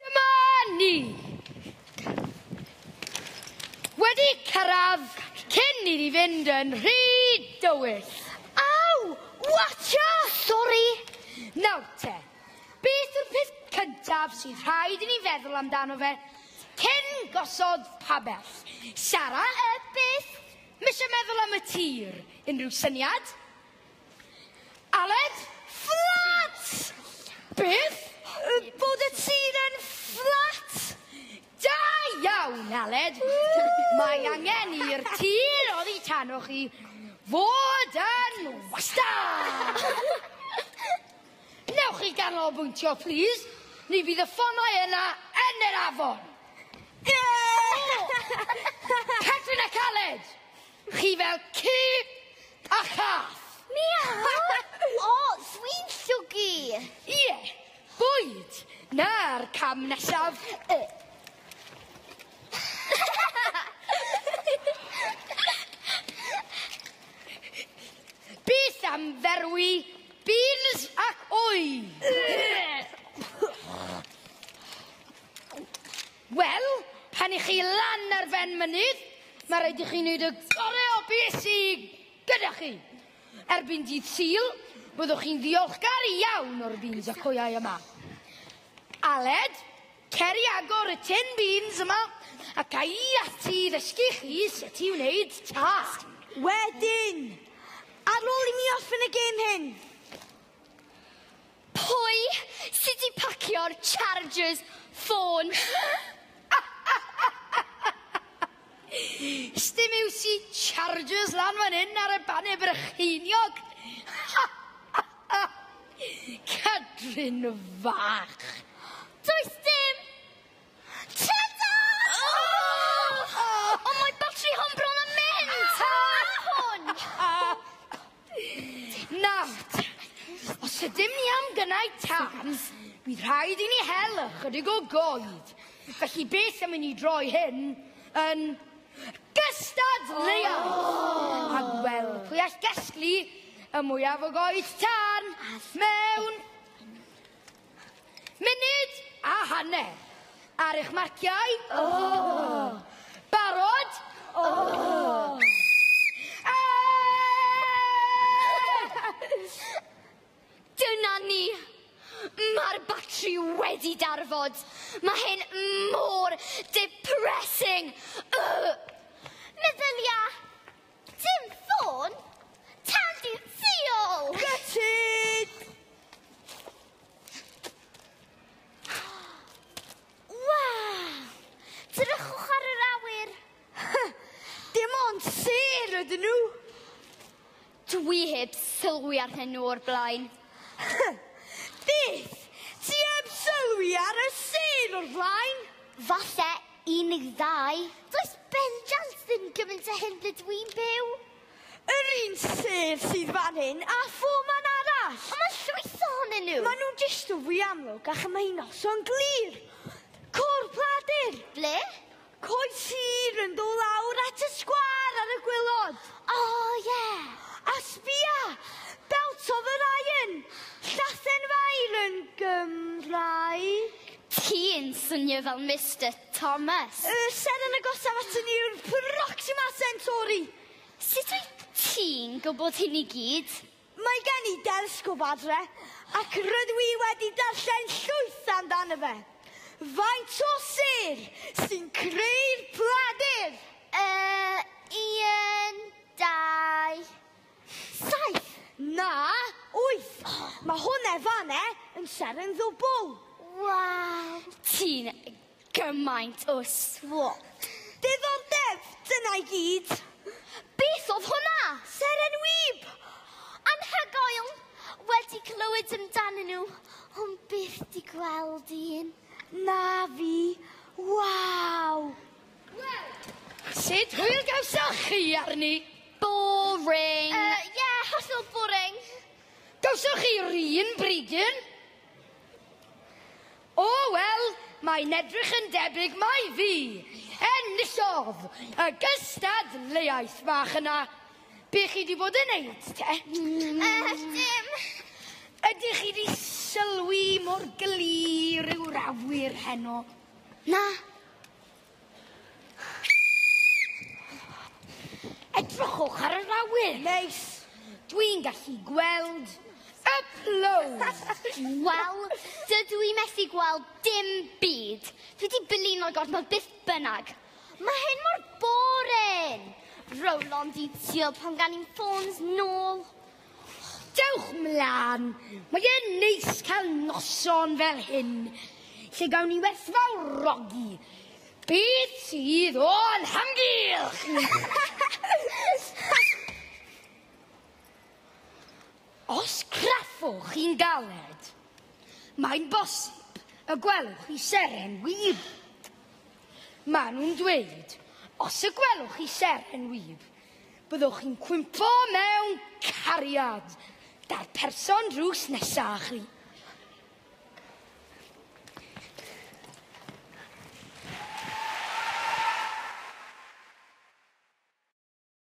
Dyma ni! Wedi cyrraedd cyn i ni fynd yn rhy dywyll. Aw! Watcha! Sori! Nawr te, beth yw'r peth cyntaf sydd rhaid i ni feddwl amdano fe cyn gosod pabell? Sara, y beth? Mise meddwl am y tir. Unrhyw syniad? Aled! Fflat! Beth? Bod y tŷ'n yn fflat! Da iawn, Aled! Mae angen i'r tir oddi tano chi fod yn wastad! Newch chi ganolbwyntio, plis? Ni fydd y ffonau yna yn yr afon! Catrin ac Aled! Chi fel ci a chath! Miaw! O, dwi'n llwgu! Ie, bwyd! Na'r cam nesaf! Beth am ferwi beans ac wy? Wel, pan i chi lan ar ben mynydd, mae rhaid i chi wneud y gorau o beth sydd gyda chi. Erbyn dydd Sul, byddwch chi'n ddiolchgar iawn o'r beans a coiau yma. Aled, cer i agor y tin beans yma ac a i ati i ddysgu chi sut i wneud tart. Wedyn, ar ôl i mi orffen y gêm hyn, Pwy sy 'di pacio'r chargers ffôn? Sdim iws i chargers lan fan 'yn ar y bane Brycheiniog! Cadwyn fach! Does dim! Tada! Ond mae batri hon bron yn mynd! Tara hwn! Nawt! Os ydym ni am gynnau tân, bydd rhaid i ni hel ychydig o goed. Felly beth am i ni droi hyn yn gystadleuaeth? Oh! A gweld pwy all gasglu y mwyaf o goed tân mewn Munud a hanner ar eich marciau. Oh! Barod? Oh! Dyna ni. Mae'r batri wedi darfod. Mae hyn mor depressing. Uh. Meddylia. Dim ffôn! Tadyn Ffïol! Gutted! Waw! Drychwch ar yr awyr! Dim ond sêr ydyn nhw! Dwi heb sylwi ar hyn nhw o'r blaen. Beth? Ti heb sylwi ar y sêr o'r flaen? Falle Unig ddau? Does bendant ddim gymaint a hyn ble dwi'n byw. Yr un sef sydd fan hyn a pho man arall. Ond mae llwyth ohonyn nhw. Mae nhw'n distaw fwy amlwg a chymau noson glir. Côr Pladur! Ble? Coed sir yn dod lawr at y sgwâr ar y gwylod. O, oh, ie. Yeah. A sbia! Belt of Orion! Llathen fair yn Gymraeg. Chi'n swnio fel Mister Thomas. Y ser yn agosaf ato ni yw'r Proxima Centauri. Sut wyt ti'n gwybod hyn i gyd? Mae gen i delesgop adre, ac rydw i wedi darllen llwyth amdano fe. Faint o ser sy'n creu'r pladur? Yy, un, dau, Saith! Na! Wyth! Mae hwnna fan e yn seren ddwbl! Waw! Ti'n gymaint o swop! Diddordeb, dyna i gyd! Beth oedd hwnna? Seren wib! Anhygoel! Wedi clywed amdanyn nhw, ond byth 'di gweld un. Na fi! Waw! Sut hwyl gawsoch chi arni? Boring. Uh, yeah, hollol boring. Gawsoch chi rîn bridyn? O, oh, wel, mae'n edrych yn debyg mai fi. Enillodd y gystadleuaeth fach yna. Be chi wedi bod yn neud, te? Mm. Uh, dim. Ydych chi wedi sylwi mor glir yw'r awyr heno? Na. Edrychwch ar yr awyr! Neis! Dwi'n gallu gweld y plowd! Wel, dydw i methu gweld dim byd. Dwi wedi blino gormod beth bynnag. Mae hyn mor boring! Rowlon di tîl pan gan i'n ffôns nôl. Dewch 'mlan! Mae e'n neis cael noson fel hyn lle gawn ni werthfawrogi beth sydd o'n hamgylch! Os craffwch chi'n galed, mae'n bosib y gwelwch chi seren wib. Maen nhw'n dweud, os y gwelwch chi seren wib, Byddwch chi'n cwympo mewn cariad 'da'r person drws nesa â chi.